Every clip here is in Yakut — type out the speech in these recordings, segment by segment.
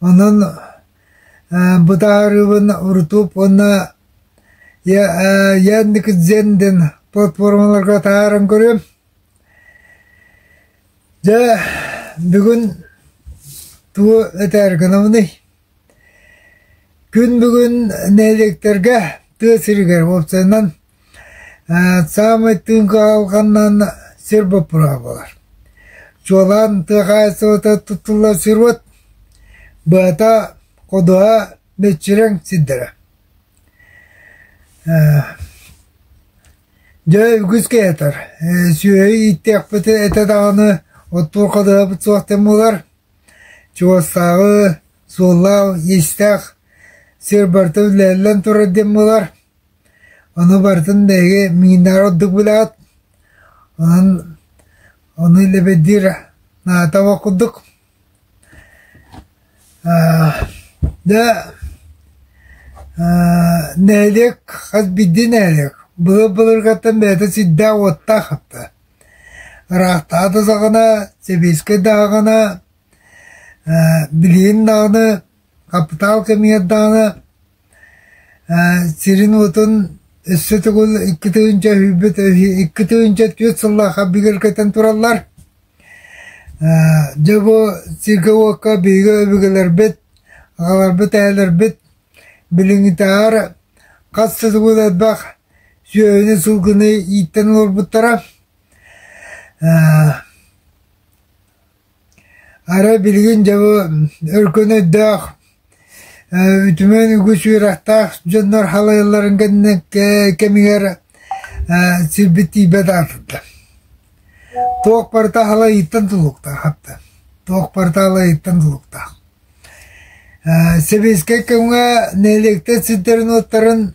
Онон бытаарыыбын урутуп уонна Яндекс.Дзен платформаларга таһааран көрүөм. Дьэ, бүгүн тугу этээр гынабыный? Күн бүгүн нэһилиэктэргэ тыа сиригэр уопсайынан Саамай тыын куһалҕаннаан сир боппуруоһа буолар. Чуолаан тыа хаһаайыстыбата туттуллар сируот быһата, ходуһа, мүччүрэҥ сирдэрэ. Дьэ, үгүс киһи сүөһү ииттэхпит этэ даҕаны оттуур ходуһабыт суох диэн буолар. Чугастааҕы суоллаах-иистээх сир барыта үлэллэн турар диэн буолар. Ону барытын биһиги миҥинээҕи ордук билэҕит, онон ону лэбирдиир наада буол курдук. Дьэ, нэһилиэк хас биирдии нэһилиэк былыр былыргаттан бэйэтэ сирдээх-уоттаах хатта. Ыраахтаҕа да саҕана, сэбиэскэй даҕана, билигин даҕаны, хапытаал кэмигэр даҕаны сирин-уотун өссө төгүл икки тыһыынча өһүйбүт икки тыһыынча түөрт сыллаахха бүгэр көтөн тураллар. Дьэ бу сиргэ-уокка биһиги өбүгэлэрбит, аҕаларбыт, эһэлэрбит билиҥҥитээҕэр хас да төгүл элбэх сүөһүнү-сылгыны ииттэн олорбуттара. Арай билигин дьэ бу өркөн өйдөөх, үтүмэн үгүс үөрэхтээх дьоннор халайалларын кэннэ кэмигэр сирбит тиийбэт аатырда. Туох барыта халайыыттан тулуктаах хапта. Туох барыта халайыыттан тулуктаах. Сэбиэскэй кэмҥэ нэһилиэктэр сирдэрин-уоттарын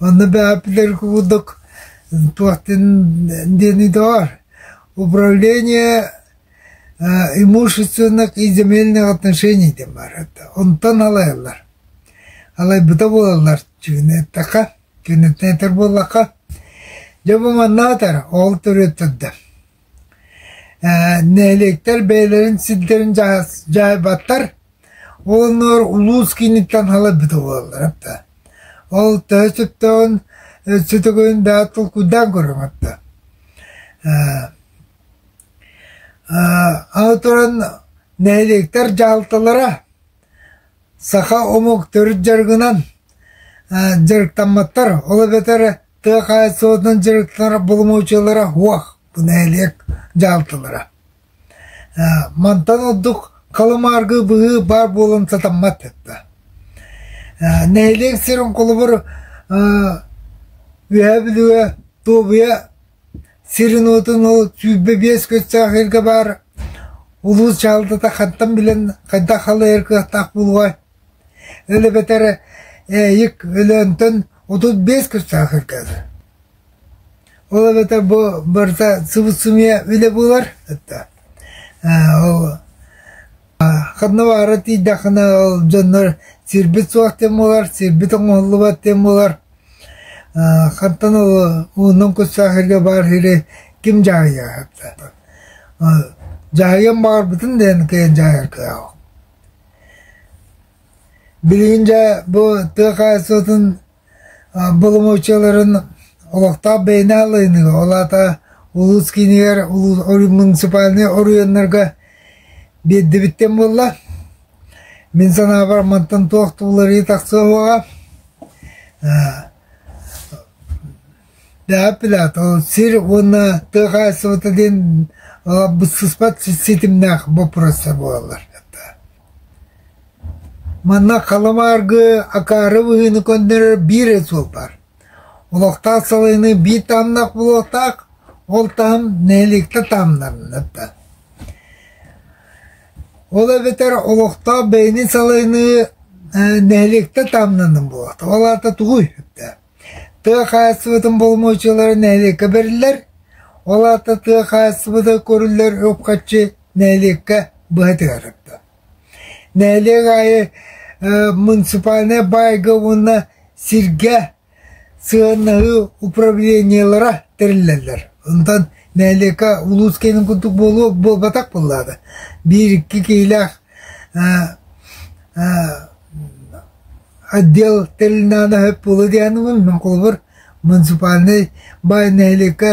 Онно бэҕэпилэр курдук туохтан диэни доҕор управление имущественных и земельных отношений диэн баар этэ онтон алайаллар алайбыта буолаллар чыгыны эттэххэ киниттэн этэр буоллахха дьэ бу манна атар ол төрүөттэрдэ нэһилиэктэр бэйэлэрин сирдэрин дьаһайбаттар уонна улуус кииниттэн халайбыта буолаллар да ол төһө сөптөөҕүн сөтөгөйүн даҕа толкуйдаан көрүҥ да аны туран нэһилиэктэр дьаһалталара Саха омук төрүт дьарыгынан дьарыктамматтар, ол эбэтэр тыа хаһаайыстыбатынан дьарыктанар боломуочуйалара уох нэһилиэк дьаһалталара. Мантан ордук халымааргы быһыы баар буолан сатаммат этэ. Нэһилиэк сирин холобур Үөһээ Бүлүгэ, Туобуйа сирин-уотун ол сүүрбэ биэс көстөөх ыйга баар улуус дьаһалтата хантан билэн хайдах халайар кыахтаах буолуой өл эбэтэр ээйик Өлөөнтөн отут биэс көстөөх ыйга ол эбэтэр бу барыта сыбыс-сымыйа үлэ буолар ол ханна баара тиийдэххинэ ол дьоннор сирбит суох диэн буолар сирбит оҥоһуллубат диэн буолар Хантан ууннун кус саахайга баарыыры ким дьаһайаат? Дьаһайыам баҕарбытын дээн кыйын дьаһайар кыаҕым. Билигин дьэ бу тыа хаһаайыстыбатын боломуочуйаларын олохтоох бэйэни халайыныга, ол аата улуус киинигэр муниципальнай оройуоннарга биэрдибиттэн буолла, Мин санаабар, мантан туох да уларыйыы тахсыа суоҕа. сир уонна тыа хаһаайыстыбата диэн быссыспат ситимнээх боппуруостар буолаллар. Манна халамааргы акаары быһыыны көннөрөр биир суол бар. Олохтаах салайыныы биир таамнах булуохтаах, ол таам нэһилиэктэ таамнанна. Ол эбэтэр олохтоох бэйэни салайыныы нэһилиэктэ таамнанан буолар. Ол аата тугуй? Тыа хаһаайыстыбатын боломуочуйалара нэһилиэккэ бэриллэр. Ол аата тыа хаһаайыстыбата көрүллэр үп-харчы нэһилиэккэ быһатыгар тардар. Нэһилиэк аайы муниципальнай баайга уонна сиргэ Сыаннаһыы управлениелара тэриллэллэр, онтон нэһилиэкэ улуус киэнин курдук буолуо буолбатах буоллаҕына, биир икки киһилээх отдел тэрилинэҕинэ сөп буолуо диэхинэ мин холобур муниципальнай баай нэһилиэккэ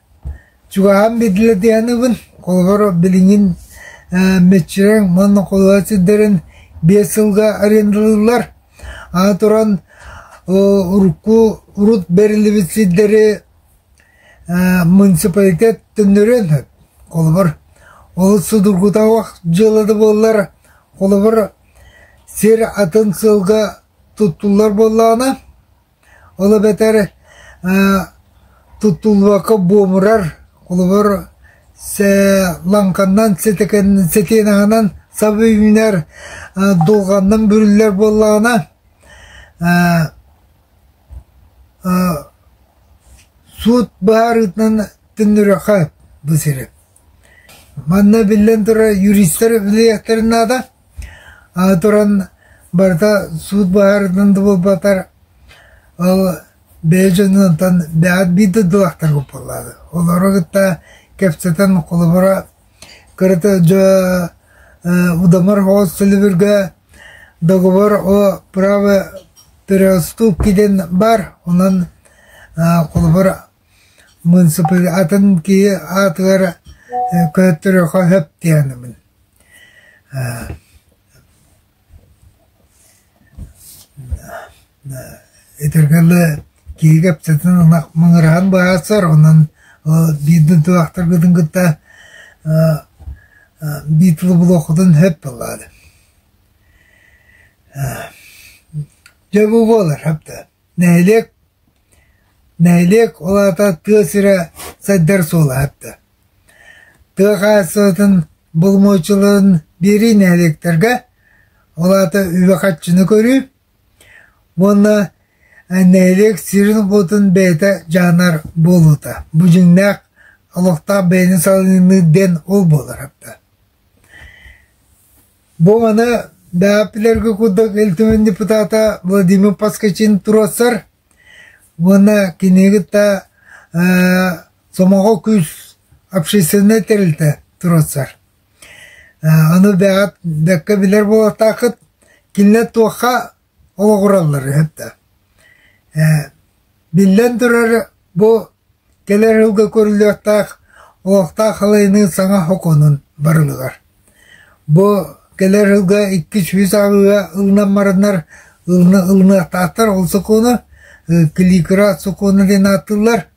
Чугаһын бирлидианыбын, холобур, билиҥҥин мөччүрэҥ уонна холоот сирдэрин биэс сылга арендалыыллар. Аны туран урукку урут бэриллибит сирдэри муниципалитет төннөрүөн сөп. Холобур, олус судургутаах дьыала да буоллар, холобур, сир атын сыалга туттуллар буоллаҕына, Ол эбэтэр туттуллубакка буомурар, холобур, лаҥканнан, сэтиэнэҕинэн саба үүнэр, дулҕаннан бүрүллэр буоллаҕына, суут быһаарыытынан төннөрүөххэ бу сири. Манна биллэн турар юристар үлэлиэхтэрин наада, аны туран барыта суут быһаарыытын да буолбатар, ол бэйэ дьонуттан бэҕэр биир да ылыахтара буоллаҕа. Олору кытта кэпсэтэн холобура, кырата дьэ удамыр хоос төлөбүргэ договор о праве переуступке диэн баар, онон холобур Муунсупуйа атын киһи аатыгар көрдөрүөххэ сөп дии саныыбын Итиргэ эле киһи кэпсэтин ынах мыҥыраһан быһаарсар, онон биирдин тубахтаргытын кытта биир булуоххутун сөп буоллаҕа дьэ бу буолар, сөптөөх нэһилиэк Нэһилиэк ол аата тыа сирэ сайдар суолаһатта. Тыа хаһаайыстыбатын боломуочуларын биэрии нэһилиэктэргэ, ол аата үбэ-харчыны көрүү уонна нэһилиэк сирин-уотун бэйэтэ дьаһанар буолуута. Бу дьиҥнээх олохтоох бэйэни салыныы диэн ол буоларыттан. Бу маны даапилэргэ курдук Ил Түмэн депутата Владимир Поскачин туруорсар уонна кини кытта э, сомоҕо күүс общественнай тэрилтэ туруорсар. Э, аны бэҕэт бэккэ билэр буолатаахыт, кинилэр туохха ол оҕураллар үһү да ээ биллэн турар бу кэлэр сылга көрүлүөхтээх олохтоох халайыныы саҥа сокуонун барылыгар бу кэлэр сылга икки сүүс ааҕыыга ылынан бараннар ылына ылыныахтаахтар ол сокуону кликра сокуона диэн ааттыыллар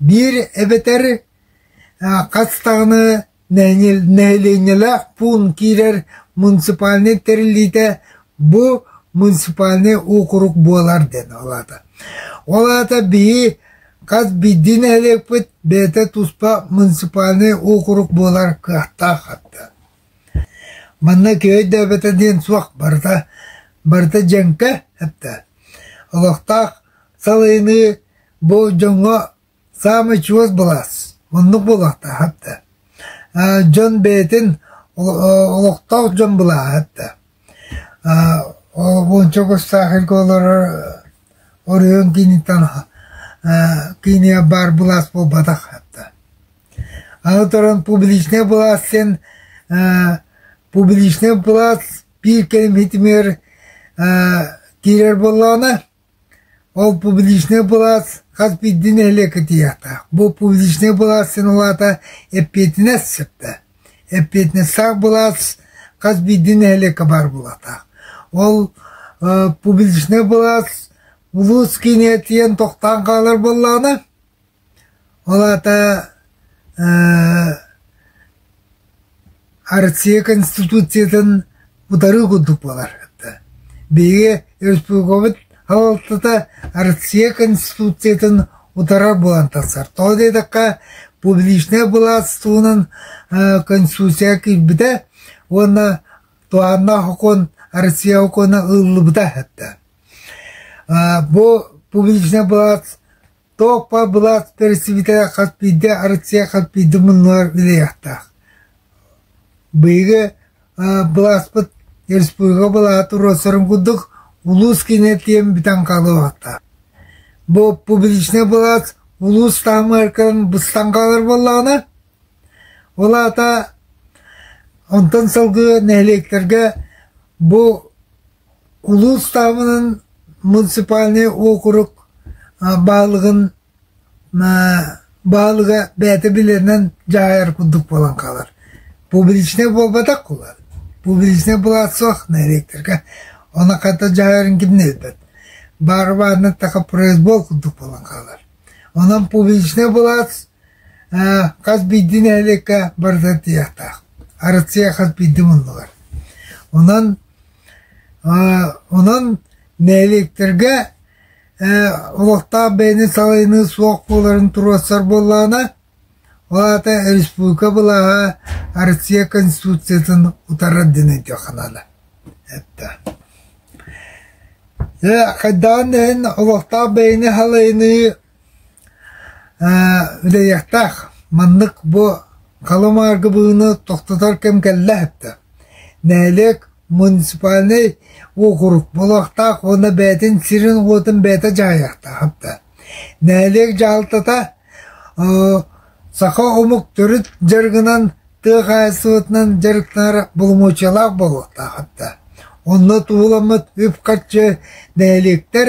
Биир эбэтэр хас даҕаны нэһилиэнньэлээх пуун киирэр муниципальнай тэриллиитэ бу муниципальнай уокурук буолар диэн ол аата. Ол аата биһи хас биирдии нэһилиэкпит бэйэтэ туспа муниципальнай уокурук буолар кыахтаах атта. Манна киһи өйдөөбөтө диэн суох барыта барыта дьэҥкэ эптэ. Олохтоох салайыныы Бу дьоҥҥо саамай чугас былаас оннук буолуохтаах да. Дьон бэйэтин олохтоох дьон былааһат да. Уонча оҕустаах эргэ олорор оройуон кииниттэн киинэ баар былаас буолбатах да. Аны туран публичнай былаас син публичнай былаас биир кэлим хитимиэр киирэр буоллаҕына Ол публичнай былаас хас биирдии нэһилиэккэ тиийиэхтээх. Бу публичнай былаас син улаата эппиэтинэс сөптө. Эппиэтинэстээх былаас хас биирдии нэһилиэккэ баар буолуохтаах. Ол э, публичнай былаас улуус киинигэр тиийэн тохтоон хаалар буоллаҕына, Ол аата ээ Россия Конституциятын утары курдук буолар. Биһиги республикабыт салалтата Россия Конституциятын утарар буолан тахсар. Тоҕо диэтэххэ, публичнай былаас туһунан ээ Конституцияҕа киирбитэ уонна туһааннаах окуон Россия окуона ылыллыбыта. Ээ бу публичнай былаас Тооппо былаат тэриллибитэ хас биирдии Россия хас биирдии муннугар үлэлиэхтээх. Биһиги былааспыт республика былааты руоссарын курдук улуус киинэ тиэн бүтэн хаалыбатта. Бу публичный былаас улуус таамааркатын быстан хаалар боллаҕына, ол аата онтон сылгы нэһилиэктэргэ бу Улуустаабынын муниципальнай уокурук баһылыгын баһылыга бэйэтэ билэринэн дьаһайар курдук буолан хаалар. Публичнай буолбатах буолар. Публичнай былаат суох нэһилиэктэргэ онон хата дьаһайарын киминэ билбэт. Бары баарынан таха произвол курдук буолан хаалар. Онон публичнай былаат Аа, хас биирдии нэһилиэккэ барыта тиийиэхтээх. Арассыыйа хас биирдии муннулар. Онон, аа, онон нэһилиэктэргэ ээ, олохтоох бэйэни салайыныы суох буоларын туруорсар буоллаҕына, ол аата республика былааһа Арассыыйа Конституциятын утарар дин өйдүөххэ наада. Эттэ. Э, хайдаан иһин олохтоох бэйэни халайыныы Үлэһиэхтээх, маннык бу халымааргы быыны тохтотор кэм кэллэ эттэ. Нэһилиэк муниципальнай уокурук буолуохтаах уонна бэйэтин сирин-уотун бэйэтэ дьаһайыахтаахтар. Нэһилиэк дьаһалтата саха омук төрүт дьарыгынан, тыа хаһаайыстыбатынан дьарыктанар боломуочуйалаах буолуохтаахтар. Онно тууламмыт үп-харчы нэһилиэктэр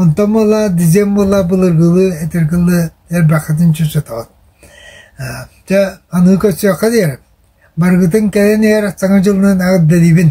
Онтон мыла дизем мыла былыргылыы этиргылыы эрбэххитин чуччатаҕыт. Ээ чэ аны көрсүөххэ диэри. Барыгытын кэлэн иһэр Саҥа дьылынан эҕэрдэлиибин